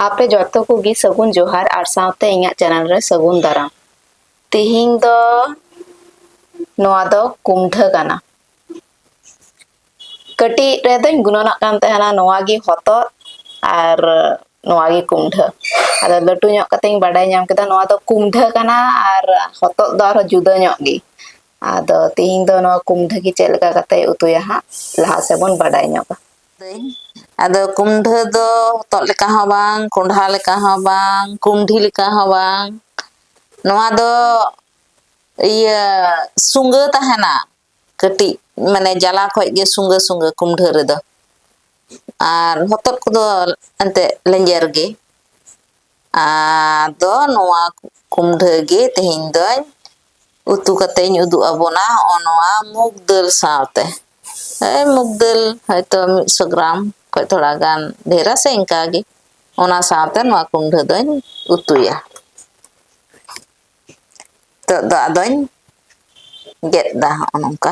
ᱟᱯᱮ ᱡᱚᱛᱚ ᱠᱚᱜᱮ ᱥᱟᱹᱜᱩᱱ ᱡᱚᱦᱟᱨ ᱟᱨ ᱥᱟᱶᱛᱮ ᱤᱧᱟᱹᱜ ᱪᱮᱱᱮᱞ ᱨᱮ ᱥᱟᱹᱜᱩᱱ ᱫᱟᱨᱟᱢ ᱛᱮᱦᱮᱧ ᱫᱚ ᱱᱚᱣᱟ ᱫᱚ ᱠᱩᱢᱰᱷᱟᱹ ᱠᱟᱱᱟ ᱠᱟᱹᱴᱤᱡ ᱨᱮᱫᱚᱧ ᱜᱩᱱᱟᱹᱱᱚᱜ ᱠᱟᱱ ᱛᱟᱦᱮᱱᱟ ᱱᱚᱣᱟ ᱜᱮ ᱦᱚᱛᱚᱫ ᱟᱨ ᱱᱚᱣᱟ ᱜᱮ ᱠᱩᱢᱰᱷᱟᱹ ᱟᱫᱚ ᱞᱟᱹᱴᱩ ᱧᱚᱜ ᱠᱟᱛᱮᱧ ᱵᱟᱰᱟᱭ ᱧᱟᱢ ᱠᱮᱫᱟ ᱱᱚᱣᱟ ᱫᱚ ᱠᱩᱢᱰᱷᱟᱹ ᱠᱟᱱᱟ ᱟᱨ ᱦᱚᱛᱚᱫ ᱫᱚ ᱟᱨᱦᱚᱸ ᱡᱩᱫᱟᱹ ᱧᱚᱜ ᱜᱮ ᱟᱫᱚ ᱛᱮᱦᱮᱧ ᱫᱚ ᱱᱚᱣᱟ ᱠᱩᱢᱰᱷᱟᱹ ᱜᱮ ᱪᱮᱫ ᱞᱮᱠᱟ ᱠᱟᱛᱮ ᱩᱛᱩᱭᱟ ᱦᱟᱸᱜ ᱞᱟᱦᱟ ᱥᱮᱫ ᱵᱚᱱ ᱵᱟᱰᱟᱭ ᱧᱚᱜᱟ ᱟᱹᱧ ᱟᱫᱚ ᱠᱩᱢᱰᱷᱟᱹ ᱫᱚ ᱦᱚᱛᱚᱫ ᱞᱮᱠᱟ ᱦᱚᱸ ᱵᱟᱝ ᱠᱚᱸᱰᱷᱟ ᱞᱮᱠᱟ ᱦᱚᱸ ᱵᱟᱝ ᱠᱩᱸᱰᱷᱤ ᱞᱮᱠᱟ ᱦᱚᱸ ᱵᱟᱝ ᱱᱚᱣᱟ ᱫᱚ ᱤᱭᱟᱹ ᱥᱩᱸᱜᱟᱹ ᱛᱟᱦᱮᱱᱟ ᱠᱟᱹᱴᱤᱡ ᱢᱟᱱᱮ ᱡᱟᱞᱟ ᱠᱷᱚᱡ ᱜᱮ ᱥᱩᱸᱜᱟᱹ ᱥᱩᱸᱜᱟᱹ ᱠᱩᱢᱰᱷᱟᱹ ᱨᱮᱫᱚ ᱟᱨ ᱦᱚᱛᱚᱫ ᱠᱚᱫᱚ ᱮᱱᱛᱮᱫ ᱞᱮᱸᱡᱮᱨ ᱜᱮ ᱟᱫᱚ ᱱᱚᱣᱟ ᱠᱩᱢᱰᱷᱟᱹ ᱜᱮ ᱛᱮᱦᱮᱧ ᱫᱚᱧ ᱩᱛᱩ ᱠᱟᱛᱮ ᱤᱧ ᱩᱫᱩᱜ ᱟᱵᱚᱱᱟ ᱦᱚᱜᱼᱚ ᱱᱚᱣᱟ ᱢᱩᱜᱽ ᱫᱟᱹᱞ ᱥᱟᱶᱛᱮ ᱮᱭ ᱢᱩᱜᱽ ᱫᱟᱹᱞ ᱦᱚᱭᱛᱚ ᱢᱤᱫ ᱥᱚ ᱜᱨᱟᱢ ᱠᱷᱚᱡ ᱛᱷᱚᱲᱟ ᱜᱟᱱ ᱰᱷᱮᱨᱟ ᱥᱮ ᱤᱱᱠᱟ ᱜᱮ ᱚᱱᱟ ᱥᱟᱶᱛᱮ ᱱᱚᱣᱟ ᱠᱩᱢᱰᱷᱟᱹ ᱫᱚᱧ ᱩᱛᱩᱭᱟ ᱱᱤᱛᱚᱜ ᱫᱚ ᱟᱫᱚᱧ ᱜᱮᱫ ᱫᱟ ᱦᱚᱜᱼᱚ ᱱᱚᱝᱠᱟ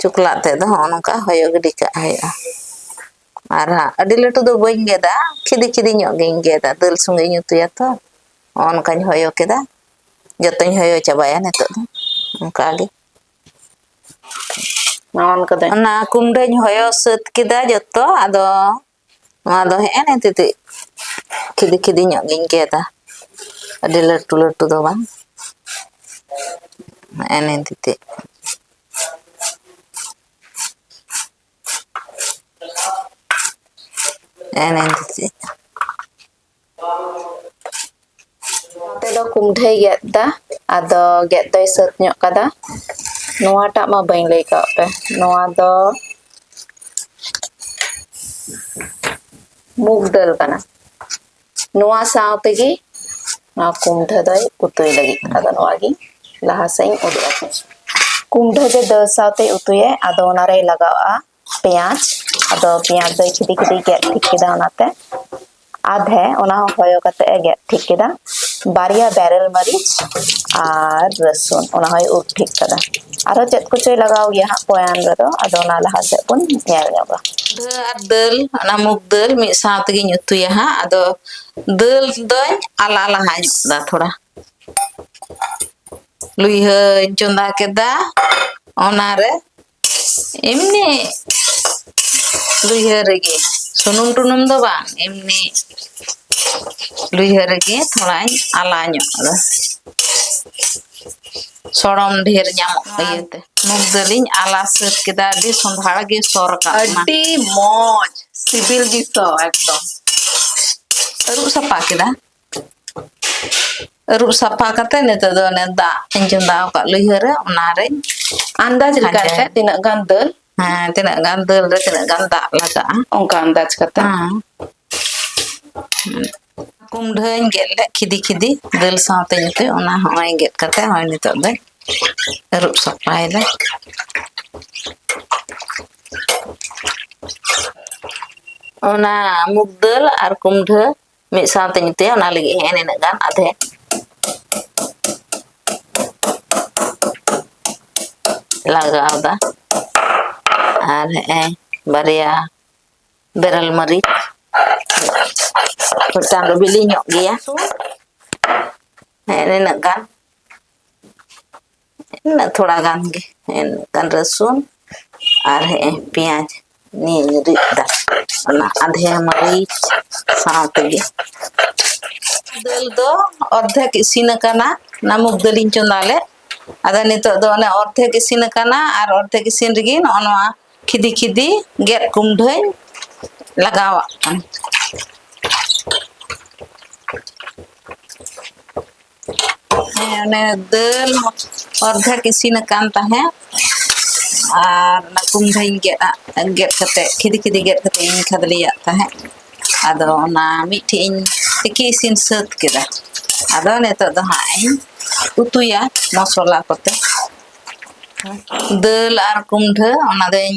ᱪᱚᱠᱞᱟᱜ ᱛᱮᱫ ᱫᱚ ᱦᱚᱸᱜᱼᱚ ᱱᱚᱝᱠᱟ ᱦᱚᱭᱚ ᱜᱤᱰᱤ ᱠᱟᱜ ᱦᱩᱭᱩᱜᱼᱟ ᱟᱨ ᱦᱟᱸᱜ ᱟᱹᱰᱤ ᱞᱟᱹᱴᱩ ᱫᱚ ᱵᱟᱹᱧ ᱜᱮᱫᱟ ᱠᱷᱤᱫᱤ ᱠᱷᱤᱫᱤ ᱧᱚᱜ ᱜᱤᱧ ᱜᱮᱫᱟ ᱫᱟᱹᱞ ᱥᱚᱸᱜᱮᱧ ᱩᱛᱩᱭᱟ ᱛᱚ ᱦᱚᱸᱜᱼᱚ ᱱᱚᱝᱠᱟᱧ ᱦᱚᱭᱚ ᱠᱮᱫᱟ ᱡᱚᱛᱚᱧ ᱦᱚᱭᱚ ᱪᱟᱵᱟᱭᱟ ᱱᱤᱛᱚᱜ ᱫᱚ ᱚᱱᱠᱟ ᱜᱮ ᱱᱚᱜᱼᱚ ᱱᱚᱝᱠᱟ ᱫᱚ ᱚᱱᱟ ᱠᱩᱢᱰᱟᱹᱧ ᱦᱚᱭᱚ ᱥᱟᱹᱛ ᱠᱮᱫᱟ ᱡᱚᱛᱚ ᱟᱫᱚ ᱱᱚᱣᱟ ᱫᱚ ᱦᱮᱸ ᱱᱮ ᱛᱤᱛᱤᱡ ᱠᱷᱤᱫᱤ ᱠᱷᱤᱫᱤ ᱧᱚᱜ ᱜᱤᱧ ᱜᱮᱫᱟ ᱟᱹᱰᱤ ᱞᱟᱹᱴᱩ ᱞᱟᱹᱴᱩ ᱫᱚ ᱵᱟᱝ ᱦᱮᱸ ᱱᱮ ᱛᱤᱛᱤᱡ ᱦᱮᱸ ᱱᱮ ᱛᱤᱛᱤᱡ ᱱᱚᱛᱮ ᱫᱚ ᱠᱩᱢᱰᱷᱟᱹᱭ ᱜᱮᱫ ᱫᱟ ᱟᱫᱚ ᱜᱮᱫ ᱫᱚᱭ ᱥᱟᱹᱛ ᱧᱚᱜ ᱠᱟᱫᱟ ᱱᱚᱣᱟᱴᱟᱜ ᱢᱟ ᱵᱟᱹᱧ ᱞᱟᱹᱭ ᱠᱟᱜ ᱯᱮ ᱱᱚᱣᱟ ᱫᱚ ᱢᱩᱜᱽ ᱫᱟᱹᱞ ᱠᱟᱱᱟ ᱱᱚᱣᱟ ᱥᱟᱶ ᱛᱮᱜᱮ ᱱᱚᱣᱟ ᱠᱩᱢᱰᱷᱟᱹ ᱫᱚᱭ ᱩᱛᱩᱭ ᱞᱟᱹᱜᱤᱫ ᱟᱫᱚ ᱱᱚᱣᱟ ᱜᱮ ᱞᱟᱦᱟ ᱥᱮᱫ ᱤᱧ ᱩᱫᱩᱜ ᱟᱯᱮ ᱠᱩᱢᱰᱷᱟᱹ ᱫᱚ ᱫᱟᱹᱞ ᱥᱟᱶᱛᱮ ᱩᱛᱩᱭᱟᱭ ᱟᱫᱚ ᱚᱱᱟᱨᱮᱭ ᱞᱟᱜᱟᱣᱟᱜᱼᱟ ᱯᱮᱸᱭᱟᱡᱽ ᱟᱫᱚ ᱯᱮᱸᱭᱟᱡᱽ ᱫᱚᱭ ᱠᱷᱤᱫᱤ ᱠᱷᱤᱫᱤ ᱜᱮᱫ ᱴᱷᱤᱠ ᱠᱮᱫᱟ ᱚᱱᱟᱛᱮ ᱟᱫᱷᱮ ᱚᱱᱟ ᱦᱚᱸ ᱦᱚᱭᱚ ᱠᱟᱛᱮ ᱮ ᱜᱮᱫ ᱴᱷᱤᱠ ᱠᱮᱫᱟ ᱵᱟᱨᱭᱟ ᱵᱮᱨᱮᱞ ᱢᱟᱹᱨᱤᱪ ᱟᱨ ᱨᱟᱹᱥᱩᱱ ᱚᱱᱟ ᱦᱚᱸᱭ ᱩᱨ ᱴᱷᱤᱠ ᱠᱟᱫᱟ ᱟᱨᱦᱚᱸ ᱪᱮᱫ ᱠᱚᱪᱚᱭ ᱞᱟᱜᱟᱣ ᱜᱮᱭᱟ ᱦᱟᱸᱜ ᱯᱚᱭᱟᱱ ᱨᱮᱫᱚ ᱟᱫᱚ ᱚᱱᱟ ᱞᱟᱦᱟ ᱥᱮᱫ ᱵᱚᱱ ᱧᱮᱞ ᱧᱚᱜᱟ ᱯᱤᱰᱷᱟᱹ ᱟᱨ ᱫᱟᱹᱞ ᱚᱱᱟ ᱢᱩᱜᱽ ᱫᱟᱹᱞ ᱢᱤᱫ ᱥᱟᱶ ᱛᱮᱜᱤᱧ ᱩᱛᱩᱭᱟ ᱦᱟᱸᱜ ᱟᱫᱚ ᱫᱟᱹᱞ ᱫᱚᱧ ᱟᱞᱟ ᱞᱟᱦᱟ ᱧᱚᱜ ᱫᱟ ᱛᱷᱚᱲᱟ ᱞᱩᱭᱦᱟᱹᱧ ᱪᱚᱸᱫᱟ ᱠᱮᱫᱟ ᱚᱱᱟᱨᱮ ᱮᱢᱱᱤ ᱞᱩᱭᱦᱟᱹ ᱨᱮᱜᱮ ᱥᱩᱱᱩᱢ ᱴᱩᱱᱩᱢ ᱫᱚ ᱵᱟᱝ ᱮᱢᱱᱤ ᱞᱩᱭᱦᱟᱹ ᱨᱮᱜᱮ ᱛᱷᱚᱲᱟᱧ ᱟᱞᱟ ᱧᱚᱜ ᱫᱟ ᱥᱚᱲᱚᱢ ᱰᱷᱮᱨ ᱧᱟᱢᱚᱜ ᱤᱭᱟᱹᱛᱮ ᱢᱩᱜᱽ ᱫᱟᱹᱞᱤᱧ ᱟᱞᱟ ᱥᱟᱹᱛ ᱠᱮᱫᱟ ᱟᱹᱰᱤ ᱥᱚᱸᱫᱷᱟᱲ ᱜᱮ ᱥᱚ ᱨᱟᱠᱟᱵ ᱮᱱᱟ ᱟᱹᱰᱤ ᱢᱚᱡᱽ ᱥᱤᱵᱤᱞ ᱜᱮ ᱥᱚ ᱮᱠᱫᱚᱢ ᱟᱹᱨᱩᱵ ᱥᱟᱯᱷᱟ ᱠᱮᱫᱟ ᱟᱹᱨᱩᱵ ᱥᱟᱯᱷᱟ ᱠᱟᱛᱮ ᱱᱤᱛᱚᱜ ᱫᱚ ᱚᱱᱮ ᱫᱟᱜ ᱤᱧ ᱪᱚᱸᱫᱟ ᱟᱠᱟᱫ ᱞᱩᱭᱦᱟᱹ ᱨᱮ ᱚᱱᱟᱨᱮ ᱟᱱᱫᱟᱡ ᱞᱮᱠᱟᱛᱮ ᱛᱤᱱᱟᱹᱜ ᱜᱟᱱ ᱫᱟᱹᱞ ᱦᱮᱸ ᱛᱤᱱᱟᱹᱜ ᱜᱟᱱ ᱫᱟᱹᱞ ᱨᱮ ᱛᱤᱱᱟᱹᱜ ᱜᱟᱱ ᱫᱟᱜ ᱞᱟᱜᱟᱜᱼᱟ ᱚᱱᱠᱟ ᱟᱱᱫᱟᱡ ᱠᱟᱛᱮ ᱦᱮᱸ ᱠᱩᱢᱰᱷᱟᱹᱧ ᱜᱮᱫ ᱞᱮᱫ ᱠᱷᱤᱫᱤ ᱠᱷᱤᱫᱤ ᱫᱟᱹᱞ ᱥᱟᱶᱛᱮ ᱧᱩᱛᱮ ᱚᱱᱟ ᱦᱚᱸᱜᱼᱚᱭ ᱜᱮᱫ ᱠᱟᱛᱮ ᱦᱚᱸᱜᱼᱚᱭ ᱱᱤᱛᱚᱜ ᱫᱚ ᱟᱹᱨᱩᱵ ᱥᱟᱯᱷᱟᱭᱮᱫᱟ ᱚᱱᱟ ᱢᱩᱜᱽ ᱫᱟᱹᱞ ᱟᱨ ᱠᱩᱢᱰᱷᱟᱹ ᱢᱤᱫ ᱥᱟᱶᱛᱮ ᱧᱩᱛᱩᱭᱟ ᱚᱱᱟ ᱞᱟᱹᱜᱤᱫ ᱦᱮᱸ ᱱᱤᱱᱟᱹᱜ ᱜᱟᱱ ᱟᱫᱷᱮ ᱞᱟᱜᱟᱣᱫᱟ ᱟᱨ ᱦᱮᱸ ᱵᱟᱨᱭᱟ ᱵᱮᱨᱮᱞ ᱢᱟᱹᱨᱤᱪ ᱢᱤᱫᱴᱟᱝ ᱫᱚ ᱵᱤᱞᱤ ᱧᱚᱜ ᱜᱮᱭᱟ ᱦᱮᱸ ᱱᱤᱱᱟᱹᱜ ᱜᱟᱱ ᱤᱱᱟᱹᱜ ᱛᱷᱚᱲᱟ ᱜᱟᱱ ᱜᱮ ᱮᱱᱠᱷᱟᱱ ᱨᱟᱹᱥᱩᱱ ᱟᱨ ᱦᱮᱸ ᱯᱮᱸᱭᱟᱡᱽ ᱱᱤᱭᱟᱹᱧ ᱨᱤᱫ ᱫᱟ ᱚᱱᱟ ᱟᱫᱷᱮ ᱢᱟᱹᱨᱤᱪ ᱥᱟᱶ ᱛᱮᱜᱮ ᱫᱟᱹᱞ ᱫᱚ ᱚᱨᱫᱷᱮᱠ ᱤᱥᱤᱱ ᱟᱠᱟᱱᱟ ᱚᱱᱟ ᱢᱩᱜᱽ ᱫᱟᱹᱞᱤᱧ ᱪᱚᱸᱫᱟ ᱞᱮᱫ ᱟᱫᱚ ᱱᱤᱛᱚᱜ ᱫᱚ ᱚᱱᱮ ᱚᱨᱫᱷᱮᱠ ᱤᱥᱤᱱ ᱟᱠᱟᱱᱟ ᱟᱨ ᱚᱨᱫᱷᱮᱠ ᱤᱥᱤᱱ ᱨᱮᱜᱮ ᱱᱚᱜᱼᱚ ᱱᱚᱣᱟ ᱠᱷᱤᱫᱤ ᱠᱷᱤᱫᱤ ᱜᱮᱫ ᱠᱩᱢᱰᱷᱟᱹᱧ ᱞᱟᱜᱟᱣᱟᱜ ᱠᱟᱱᱟ ᱦᱮᱸ ᱚᱱᱮ ᱫᱟᱹᱞ ᱚᱨᱫᱷᱮᱠ ᱤᱥᱤᱱ ᱟᱠᱟᱱ ᱛᱟᱦᱮᱸᱫ ᱟᱨ ᱚᱱᱟ ᱠᱩᱢᱰᱷᱟᱹᱧ ᱜᱮᱫ ᱟᱜ ᱜᱮᱫ ᱠᱟᱛᱮᱫ ᱠᱷᱤᱫᱤ ᱠᱷᱤᱫᱤ ᱜᱮᱫ ᱠᱟᱛᱮᱫ ᱤᱧ ᱠᱷᱟᱫᱽᱞᱮᱭᱟᱜ ᱛᱟᱦᱮᱸᱫ ᱟᱫᱚ ᱚᱱᱟ ᱢᱤᱫᱴᱷᱮᱡ ᱤᱧ ᱛᱤᱠᱤ ᱤᱥᱤᱱ ᱥᱟᱹᱛ ᱠᱮᱫᱟ ᱟᱫᱚ ᱱᱤᱛᱚᱜ ᱫᱚ ᱦᱟᱸᱜ ᱤᱧ ᱩᱛᱩᱭᱟ ᱢᱚᱥᱞᱟ ᱠᱚᱛᱮ ᱫᱟᱹᱞ ᱟᱨ ᱠᱩᱢᱰᱷᱟᱹ ᱚᱱᱟ ᱫᱚᱧ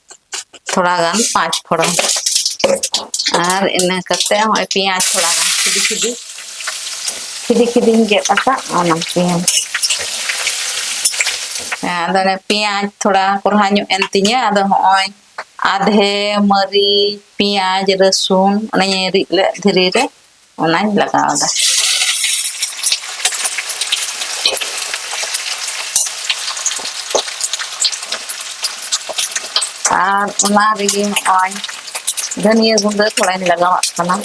ᱛᱷᱚᱲᱟ ᱜᱟᱱ ᱯᱟᱸᱪ ᱯᱷᱚᱲᱚᱱ ᱟᱨ ᱤᱱᱟᱹ ᱠᱟᱛᱮ ᱦᱚᱸᱜᱼᱚᱭ ᱯᱮᱸᱭᱟᱡᱽ ᱛᱷᱚᱲᱟ ᱜᱟᱱ ᱠᱷᱤᱫᱤ ᱠᱷᱤᱫᱤ ᱠᱷᱤᱫᱤ ᱠᱷᱤᱫᱤᱧ ᱜᱮᱫ ᱟᱠᱟᱫ ᱚᱱᱟ ᱯᱮᱸᱭᱟᱡᱽ ᱟᱫᱚ ᱚᱱᱮ ᱯᱮᱸᱭᱟᱡᱽ ᱛᱷᱚᱲᱟ ᱠᱚᱨᱦᱟ ᱧᱚᱜ ᱮᱱ ᱛᱤᱧᱟᱹ ᱟᱫᱚ ᱦᱚᱸᱜᱼᱚᱭ ᱟᱫᱷᱮ ᱢᱟᱹᱨᱤᱪ ᱯᱮᱸᱭᱟᱡᱽ ᱨᱟᱹᱥᱩᱱ ᱚᱱᱮᱧ ᱨᱤᱫ ᱞᱮᱫ ᱫᱷᱤᱨᱤ ᱨᱮ ᱚᱱᱟᱧ ᱞᱟᱜᱟᱣᱫᱟ ᱟᱨ ᱚᱱᱟ ᱨᱮᱜᱮ ᱱᱚᱜᱼᱚᱭ ᱫᱷᱟᱹᱱᱤᱭᱟᱹ ᱜᱩᱸᱰᱟᱹ ᱛᱷᱚᱲᱟᱧ ᱞᱟᱜᱟᱣᱟᱜ ᱠᱟᱱᱟ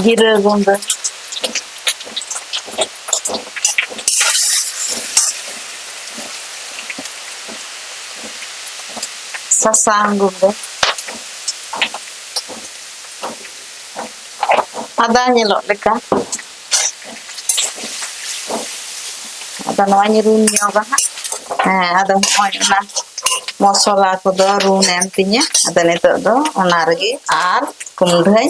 ᱡᱤᱨᱟᱹ ᱜᱩᱸᱰᱟᱹ ᱥᱟᱥᱟᱝ ᱜᱩᱰᱟᱹ ᱟᱫᱟ ᱧᱮᱞᱚᱜ ᱞᱮᱠᱟ ᱟᱫᱚ ᱱᱚᱣᱟᱧ ᱨᱩᱱ ᱧᱚᱜᱟ ᱦᱟᱸᱜ ᱦᱮᱸ ᱟᱫᱚ ᱱᱚᱜᱼᱚᱭ ᱚᱱᱟ ᱢᱚᱥᱞᱟ ᱠᱚᱫᱚ ᱨᱩᱱ ᱮᱱ ᱛᱤᱧᱟᱹ ᱟᱫᱚ ᱱᱤᱛᱚᱜ ᱫᱚ ᱚᱱᱟ ᱨᱮᱜᱮ ᱟᱨ ᱠᱩᱢᱰᱷᱟᱹᱧ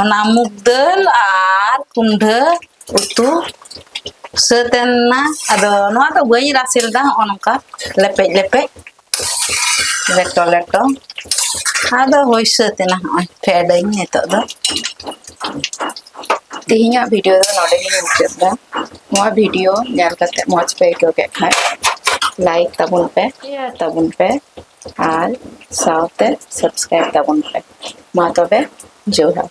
ᱚᱱᱟ ᱢᱩᱜᱽ ᱫᱟᱹᱞ ᱟᱨ ᱠᱩᱢᱰᱷᱟᱹ ᱩᱛᱩ ᱥᱟᱹᱛ ᱮᱱᱟ ᱟᱫᱚ ᱱᱚᱣᱟ ᱫᱚ ᱵᱟᱹᱧ ᱨᱟᱥᱮ ᱞᱮᱫᱟ ᱦᱚᱸᱜᱼᱚ ᱱᱚᱝᱠᱟ ᱞᱮᱯᱮᱡ ᱞᱮᱯᱮᱡ ᱞᱮᱴᱚ ᱞᱮᱴᱚ ᱟᱫᱚ ᱦᱩᱭ ᱥᱟᱹᱛ ᱮᱱᱟ ᱦᱚᱸᱜᱼᱚᱭ ᱯᱷᱮᱰᱟᱹᱧ ᱱᱤᱛᱚᱜ ᱫᱚ ᱛᱮᱦᱮᱧᱟᱜ ᱵᱷᱤᱰᱤᱭᱳ ᱫᱚ ᱱᱚᱰᱮ ᱜᱤᱧ ᱢᱩᱪᱟᱹᱫ ᱮᱫᱟ ᱱᱚᱣᱟ ᱵᱷᱤᱰᱤᱭᱳ ᱧᱮᱞ ᱠᱟᱛᱮ ᱢᱚᱡᱽ ᱯᱮ ᱟᱹᱭᱠᱟᱹᱣ ᱠᱮᱫ ᱠᱷᱟᱱ ᱞᱟᱭᱤᱠ ᱛᱟᱵᱚᱱ ᱯᱮ ᱥᱮᱭᱟᱨ ᱛᱟᱵᱚᱱ ᱯᱮ ᱟᱨ ᱥᱟᱶᱛᱮ ᱥᱟᱵᱥᱠᱨᱟᱭᱤᱵ ᱛᱟᱵᱚᱱ ᱯᱮ ᱢᱟ ᱛᱚᱵᱮ ᱡᱚᱦᱟᱨ